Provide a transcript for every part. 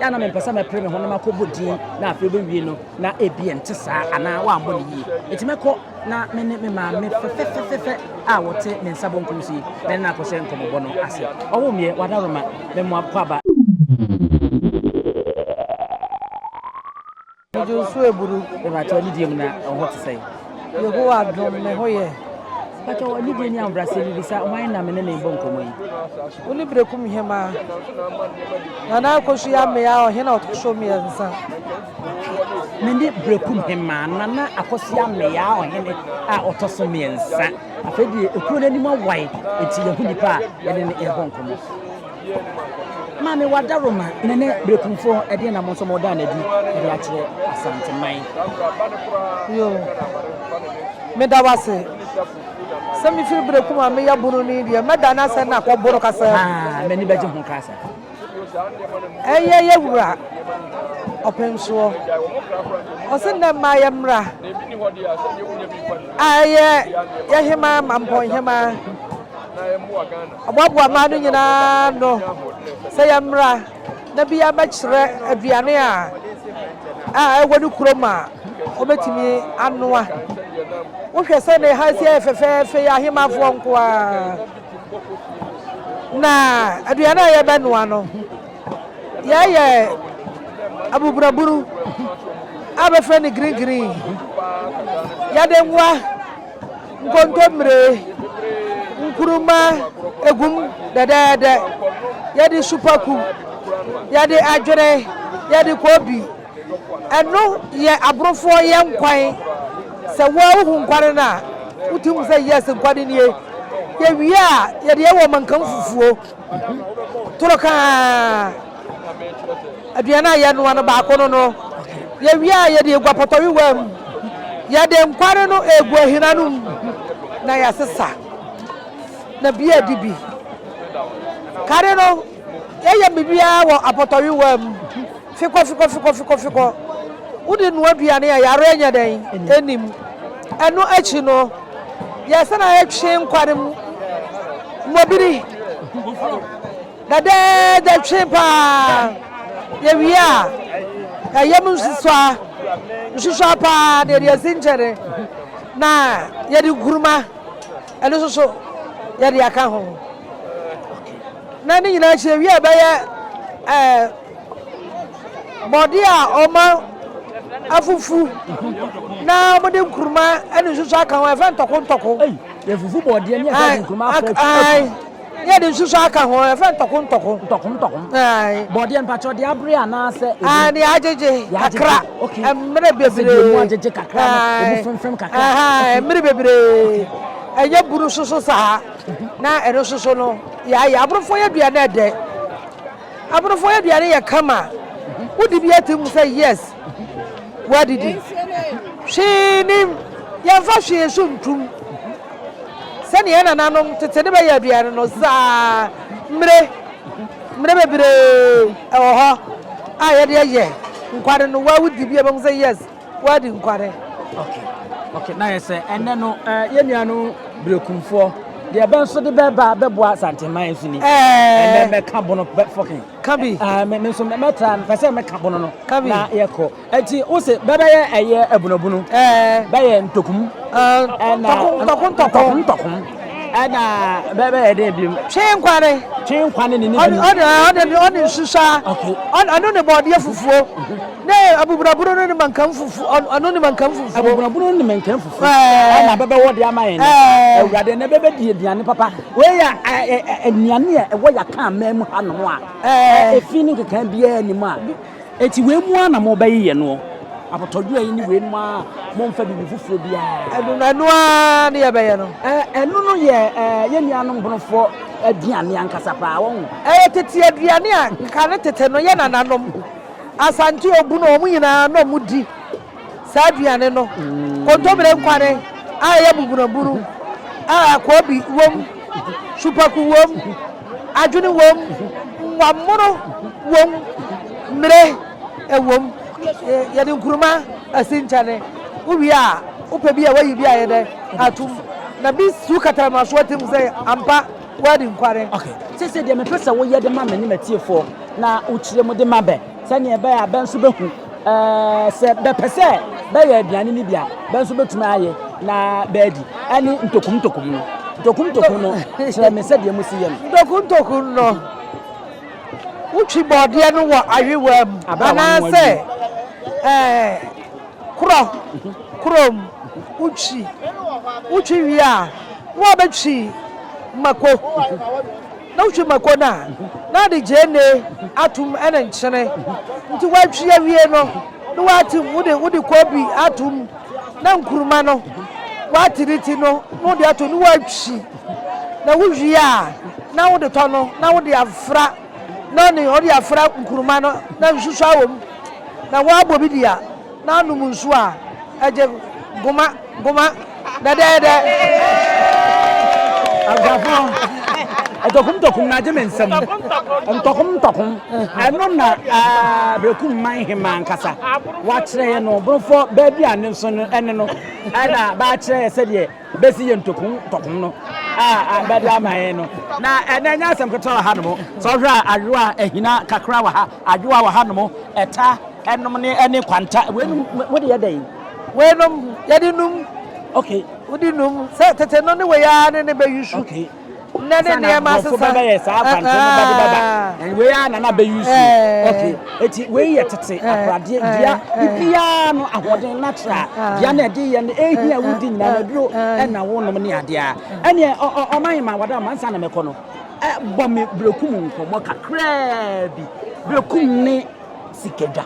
Yɛ na mempɛ sɛ mɛpere me ho na makɔbɔ din na afei bɛwie no na ebia nte saa anaa wɔammɔ no yie. Enti mɛkɔ na me ne me maame fɛfɛfɛfɛfɛ a wɔte me nsa bonkum so yi, me ne no akɔhyɛ nkɔmmɔbɔ no ase. Ɔwoo meɛ, w'adaworoma, me mmoa kwaaba. Me dwo nso aburu. Mepakyɛ w'anidie mu na wo ho te sɛn? Yehowa dom me ho yɛ. Mepakyɛ w'anidie ne ahobrɛaseɛ mu bisa hwan na me ne no rebɔ nkɔmmɔ yi? Wo ne Berekum Hemaa. Nana Akosua Ameaa ɔhene a ɔtɔ so mmiɛnsa. Me ne Berekum Hemaa Nana Akosua Ameaa ɔhene a ɔtɔ so mmiɛnsa. Afei deɛ ekuro no anim awae nti yɛn ho nipa a yɛne no rebɔ nkɔmmɔ. Maame Wadaroma ne ne berekumfoɔ, ɛdeɛn na mo nso moda no adi de akyerɛ Asanteman? Yo, meda wo ase. Sɛ mefiri berekum a meyɛ bononi deɛ, mɛda no asɛ na akɔ bono kasa. Haa, m'ani bɛgye ho koraa saa. Ɛyɛ yɛ wura Ɔpɛnsoɔ. Ɔse nnɛ mmaa yɛ mmra a ɛyɛ yɛ hemaa Mampɔn hemaa. Ɔboaboa mmaa no nyinaa ano sɛ yɛmmra na biara mmɛkyerɛ aduane a a ɛwɔ ne kurom a ɔbɛtumi anoa. Wohwɛ sɛ ne ha si ayɛ fɛfɛɛfɛ yi, ahemafoɔ nko ara na aduane a yɛbɛnoa no yɛyɛ abuburaburu a bɛfrɛ no green green yɛde nwa nkontommire, nkuruma gu mu dɛdɛɛdɛ, yɛde supaku, yɛde adwene, yɛde koobi. Ɛno yɛ aborofoɔ yɛ nkwan. Sɛ wo ara wohu nkwan no a, wotumi hu sɛ yes nkwan no nie. Yɛwie a, yɛde yɛ wɔ mankanfufuo. toro kaa aduane a yɛnoa no baako no no yɛwie a yɛde egua pɔtɔwewaa mu yɛde nkware no egu ahina no mu na yɛasesa na bi adi bi kare no yɛyɛ biribiara wɔ apɔtɔwewaa mu. Fikɔ fikɔ fikɔ fikɔ fikɔ wode noa aduane a yareɛ nyɛ dɛn ɛnim. Ɛno akyi no yɛsan ayɛ twe nkwa no mu mmɔbiri dɛdɛɛdɛ twe paa yɛwie a ɛyam nsusua nsusua paa na yɛde asi nkyɛne na yɛde nkuruma ɛno nso so yɛde aka ho. Na ne nyinaa akyi awie a ɛbɛyɛ ɛɛ bɔde a ɔma afufu na wɔde nkuruma ne nsusu aka ho ɛfɛ ntɔko ntɔko. Ɛyi yɛfufu bɔdeɛ ne yɛde nkuruma afra afu. Ne yɛde nsusu aka ho ɛfɛ ntɔko ntɔko. Ntɔko ntɔko. Bɔdeɛ mpatsɔ de abere anaasɛ. Ɛɛ ne yɛagyegye kakra. Okay. Mmerɛ bebree. Ɛsɛ mu agyegye kakra no ɛmu fɛmfɛm kakra. Ɛmmerɛ bebree ɛnyɛ buru soso saa. Na ɛno nso so no, yɛayɛ aborofoɔ aduane a ɛdɛ. Aborofoɔ aduane yɛ kama. Wodi bi ati mu sɛ yes, woadidi. Hwee nim, yɛmfa hwee so ntum. Sɛnea yɛn nananom tete de bɛyɛ aduane no, saa mmere mmere bebree wɔ hɔ a yɛde yɛ nkwane no. Wo a wodi bi a, wobɛhu sɛ yes. Wadi nkware. Okay. Okay, na yɛ sɛ ɛnɛ no eh, yɛ nua no Berekumfoɔ deɛ ɛbɛn so de bɛba bɛboa Santeman nso ni. Ɛnɛ mɛka bono bɛ fɔkin. Kabi. Ah, me nso mɛtra no, pɛ sɛ mɛka bono no. Kabi. Na yɛkɔ. Ɛti wo se bɛbɛyɛ ɛyɛ abunabunu. Ɛɛ. Bɛyɛ ntokum. Ɛna. Ntɔko ntɔko ntɔko. Ntɔko ntɔko. Ɛna bɛbɛyɛ dɛ biom. Twe nkwa ne. Twe nkwa ne ne ne bi. Ɔde ɔde ɔde ɔde nsusa. Okay. Ɔno ne bɔɔdeɛ fufuo. Mm-hmm. Ne abubunabuno no ne mankan fufuo. Ɔno ne mankan fufuo. Abubunabuno no ne mankan fufuo. Ɛɛ. Ɛna bɛbɛwɔ de ama yɛn. Ɛɛ. Awurade na bɛbɛdi aduane papa. Wei yɛ aduane a ɛwɔ yɛaka aman mu hanom a. Ɛɛ. Efi ne nkeka biara nim a. Enti wei mu ara na mobɛyeyɛ noɔ? Apotɔdwera yi ne wei nom ara, momfa biribi foforɔ biara. Ɛno no, ɛno ara ne yɛbɛyɛ no. Ɛno no yɛ yɛn nuanom bonofoɔ aduane ankasa paa, wahu. Ɛyɛ tete aduane a kane tete no yɛn nananom, Asante, Obunu, wɔn nyinaa na wɔdi Saa aduane no, kontomire nkwane a ɛyɛ buburaburu a koobi wom, supaku wom, adwene wom, nwammono wom, mmire wom, yɛde nkuruma asi nkyɛne. Wowie a, wopɛ bi a, woayi bi a ayɛ dɛ atom, na bi si wo kataramaso atirim sɛ ampa woadi nkwane. Okay, sese deɛ mepɛ sɛ woyɛ de ma me ne m'atiefoɔ na wokyerɛ mu de ma bɛ sɛdeɛ ɛbɛyɛ a bɛ nso bɛhu Sɛ bɛpɛ sɛ bɛyɛ aduane no bi a, bɛ nso betumi ayɛ na bɛadi. Ɛne ntokuntokum no. Ntokuntokum no, kyerɛ me sɛdeɛ mosi yɛ no. Ntokuntokum no, wotwi bɔɔdeɛ no wɔ ayewaa mu anaasɛ korɔ korɔ mu. Wotwi, wotwi wie a, na wɔabɛtwi mako. Na wotwi mako no a, na wɔde gyeene atom ne nkyene. Nti wɔatwi awie no, na wɔate mu de wode koobi atom, na nkuruma no, wɔate ne ti no na wode atom na wɔatwi. Na wowie a, na wode tɔ no na wode afra nɔne, wode afra nkuruma no na nsusuaa wom, na wɔabɔ bi de a. Na anom nsu a ɛgye goma goma dɛdɛɛdɛ. Abusuafo, ntɔkum ntɔkum na agye me nsam. Ntɔkum ntɔkum, ɛno na Berekum man hemmaa ankasa wakyerɛ yɛn no. Borɔfo baa bi a ne nso ne no na bɛakyerɛ yɛn sɛdeɛ. bɛsi yɛn ntɔku ntɔko no a bɛde ama yɛn no na ɛnɛ nyɛ asɛm ketewa wɔ ha nom sɛ ɔhwɛ a ayowa ahina kakra wɔ ha ayowa wɔ ha nom ɛta ɛnom ne ɛne kwanta weinom wode yɛ dɛn weinom yɛde num okay wode num sɛ tete no ne wei ara ne ne bɛyi su Nnɛ ne nneɛma asesa. Nkurɔfo bɛbɛyɛ saa akwankyerɛ no ba de bɛba. Ɛn, wei ara na na bɛ use yi. Okay. Enti wei yɛ tete akoradeɛ dua. Biribiara no, ahoɔden, natural, dua no a ɛde yɛ no, ɛhia a wodi nyinaa no, aduro na wonom ne adeɛ a. Ɛnneɛ ɔ, ɔ, ɔman ma wadamma, ansa na mɛkɔ no, ɛ, bɔ me Berekum nkɔmmɔ kakraa bi. Berekum ne. sika dwa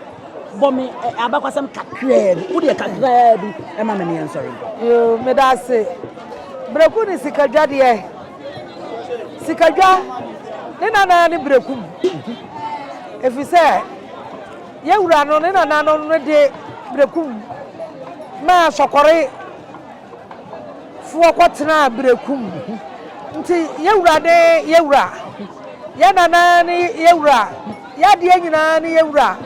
bɔ me eh, abakwasɛm kakraa bi wodeɛ kakraa bi ɛma me neɛ nsɔre nkɔ yoo meda ase berɛku ne sika dwa deɛ sika dwa ne nanaa ne berɛku mu ɛfiri sɛ yɛwura no ne nananom no de berɛku mu maa sɔkɔre Foɔ kɔtenaa berekum nti yɛ wura ne yɛ wura yɛ nana ne yɛ wura yɛ adeɛ nyinaa ne yɛ wura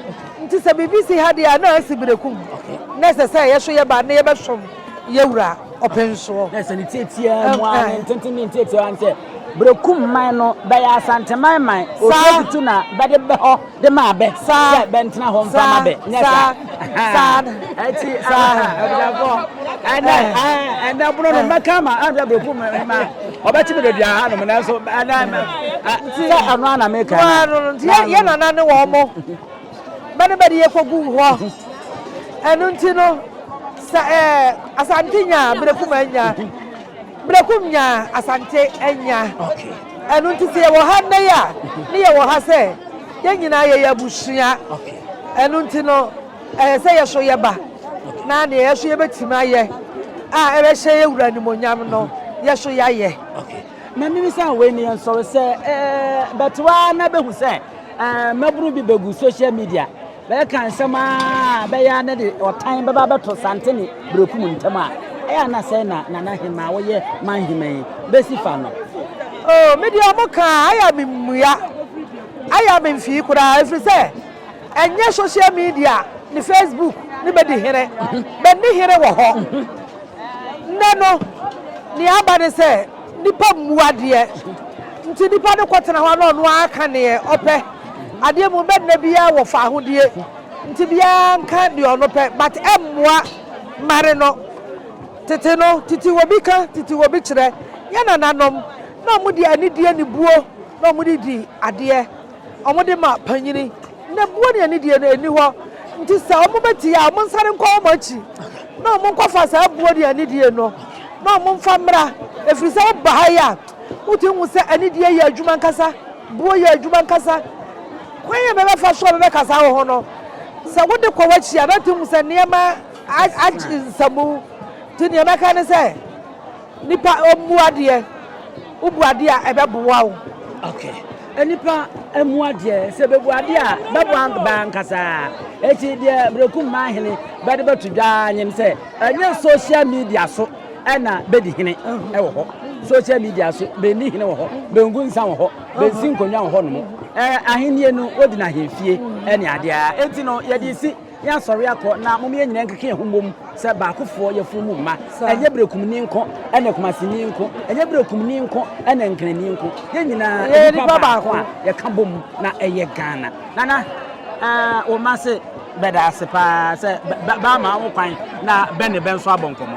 nti sɛ biribi si ha deɛ a na asi berekum na ɛsɛ sɛ yɛso yɛ ba na yɛbɛsom yɛ wura ɔpensoɔ. Na ɛsɛ ne tiatia mu ara ne ntenten ne ntiatia ara ne sɛ berekum man no bɛyɛ asanteman man otuo tutu na bɛde bɛ hɔ. de maa bɛ sɛ bɛntena hɔ mfa ma bɛ. Nyɛ saa. Saa. Ɛti abusuafoɔ ɛnɛ ɛnɛ bono no mɛka ama anhwɛ bɛku me ma ɔbɛkye me baabi aha nom nanso ɛnɛ sɛ ɛno a na meka yɛ nana ne wɔn mo bɛne bɛde yɛ kɔgu hɔ ɛno nti no sɛ ɛɛ asante nya berɛkum anya berɛkum nya asante anya. Okay. Ɛno nti sɛ yɛwɔ ha nnɛ yi a, ne yɛwɔ ha sɛ yɛn nyinaa yɛyɛ abusua. Ɛno nti no, ɛyɛ sɛ yɛso yɛba na nea yɛso yɛbɛtumi ayɛ a ɛbɛhyɛ yɛn wura nimonyam no, yɛso yɛayɛ. Na mimi sɛ wei ne yɛn sɔre sɛ bɛtoa na bɛhu sɛ mmabunu bi bɛgu social media Bɛreka nsɛm ara a ɛbɛyɛ ara na ɛde ɔtan bɛba abɛto Sante ne Berekum ntam a, ɛyɛ a na sɛe na Nana Hemma a ɔyɛ Manhemma yi besi fa no. Oh, me deɛ wɔka a, ayɛ a memmua. Ayɛ a memfii koraa, ɛfiri sɛ ɛnyɛ social media ne Facebook ne bɛdi here. Bɛnni here wɔ hɔ. Nnɛ no, nea aba ne sɛ. Nnipa mmu adeɛ, nti nipa no kɔtena hɔ a na ɔno ara ka deɛ ɔpɛ. Adeɛ mu bɛdena biara wɔ faahodie, nti biara nka deɛ ɔno pɛ, but ɛmmoa mmare no. Tete no, titiwobi ka, titiwobi kyerɛ. Yɛn nananom, na wɔde anidie ne buo na wɔde di adeɛ. Wɔde ma panyin, na buo ne anidie no nni hɔ, nti sɛ wɔbɛtie a, wɔnsane nkɔ wɔn akyi na wɔnkɔfa saa buo ne anidie no na wɔmfa mmra, ɛfiri sɛ woba ha yi a, wotumi hu sɛ anidie yɛ adwuma ankasa, buo yɛ adwuma ankasa. Kwan a ɛbɛbɛfa so a ɛbɛbɛkasa wo ho no, sɛ wode kɔ w'akyi a, na atumi hu sɛ nneɛma agye nsamu, nti deɛ mɛka ne sɛ. Nipa mmua deɛ wobu adeɛ a ɛbɛboa wo. Okay. Nipa mmua deɛ sɛ bɛbu adeɛ a bɛboa baa nkasaa. Eti deɛ Brekum Mahene bɛde bɛto dwaa nyem sɛ ɛnyɛ social media so ɛna bɛdi hene ɛwɔ hɔ. Social media so bɛnni hene wɔ hɔ, bɛngu nsa wɔ hɔ, bɛnsi nkonnwa wɔ hɔ nom. Ɛɛ ahennie no wodi no ahemfie ɛne adeɛ a enti no yɛde si. Yɛasɔre akɔ, na mom yɛn nyinaa nkeka yɛn ho mmom sɛ baakofoɔ, y'afunumu mma. Ɛnyɛ Berekumni nko ne Kumasini nko, ɛnyɛ Berekumni nko ne Nkranni nko, yɛn nyinaa yɛ nnipa baako a yɛka bom na ɛyɛ Ghana. Nana, wo mma se bɛda ase pa ara sɛ bɛama wo kwan na bɛ ne bɛ nso abɔ nkɔmmɔ.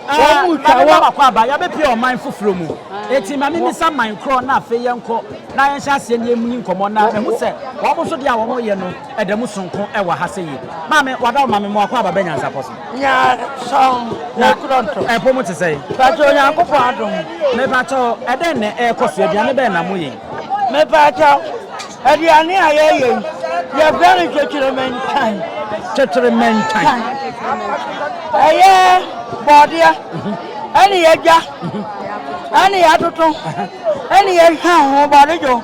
Wɔn retwa wɔ. Yɛabɛpue ɔman foforɔ mu, enti ma memmisa man korɔ na afei yɛnkɔ. na yɛnhyɛ aseɛ ne yɛmuni nkɔmmɔ na mahu sɛ wɔn nso deɛ a wɔn reyɛ no ɛda mu sonko wɔ ha sɛ yie. Maame, wada wo maame mmoa kɔ aba bɛ nyansapɔ so. Nyansɔn, na Toronto. Ɛpo mo te sɛn? Pakyɛ Onyankopɔn adom. Mepakyɛ ɛdɛn na ɛrekɔ so, aduane bɛn na moyɛ yi? Mepakyɛ aduane a yɛyɛ yi, yɛfrɛ no twetweremɛnkyan. Twetweremɛnkyan. Ɛyɛ bɔɔdeɛ ɛne yɛgya. Ɛne yɛatoto, ɛne yɛhwam ho bɔne dwo,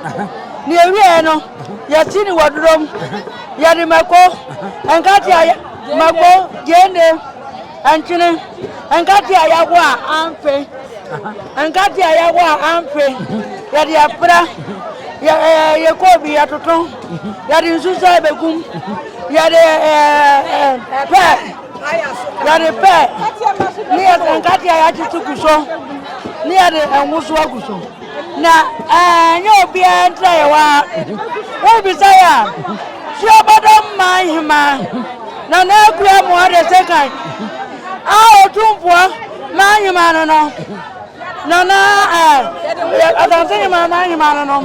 ne yɛwieɛ no, yɛsi no wɔ duro mu, yɛde mako, nkate a mako, gyeene, nkyene, nkate a yɛago a amfe, nkate a yɛago a amfe, yɛde ɛpra, yɛkɔ obi yɛtoto, yɛde nsusa bɛgum, yɛde pɛ. Yɛde pɛ ne yɛde nkateɛ yɛatete gu so ne yɛde ngo so agu so na ɛnyɛ obiara ntra yɛ hɔ a wobisa yɛ a suabɔdɔ mma nhema na na akura mu ɔde sekan a ɔtumfoɔ ma nhema no no Nana eh, Asante Hemman man Hemman no nom,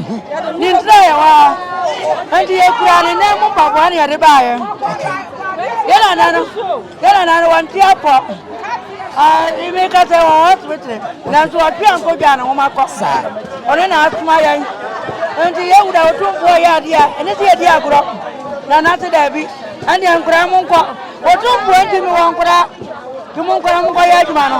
ne ntira yɛ hɔ a, enti yɛ kura ne nan mu mpaboa ne yɛde baa yɛ. Yɛ nana no, yɛ nana no wɔn ti apɔ. Ah, ime kasa wɔ hospital, nanso ɔtwe anko dwa ne nwoma kɔ. Ɔne na asoma yɛn. Enti yɛ wura otumfoɔ yɛ adeɛ a, ɛne sɛ yɛdi agorɔ. Nana se daabi, ɛnneɛ nkora mo nkɔ. Otumfoɔ ntumi wɔ nkora, nti mo nkora mo nkɔ yɛ adwuma no.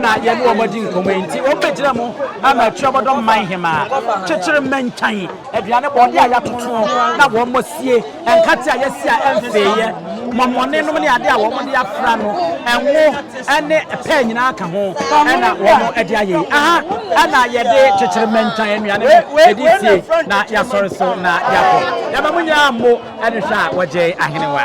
na yɛne wɔn adi nkɔmmɔ yi nti, wɔbɛgyina mu ama atuabɔdɔm man hemaa, kyekyere mmɛnkyan, aduane bɔɔde a yɛatoto na wɔasie, nkate a yɛasi a ɛmfeeɛ, mɔmɔne nom ne adeɛ a wɔde afra no, ngo ne pɛɛ nyinaa ka ho na wɔde ayɛ yi. Aha na yɛde kyekyere mmɛnkyan nnuane no yɛde sie na yɛasɔre so na yɛakɔ. Yɛma mo nyinaa mmo. Ɛne hwɛ a wɔgyee ahenewa.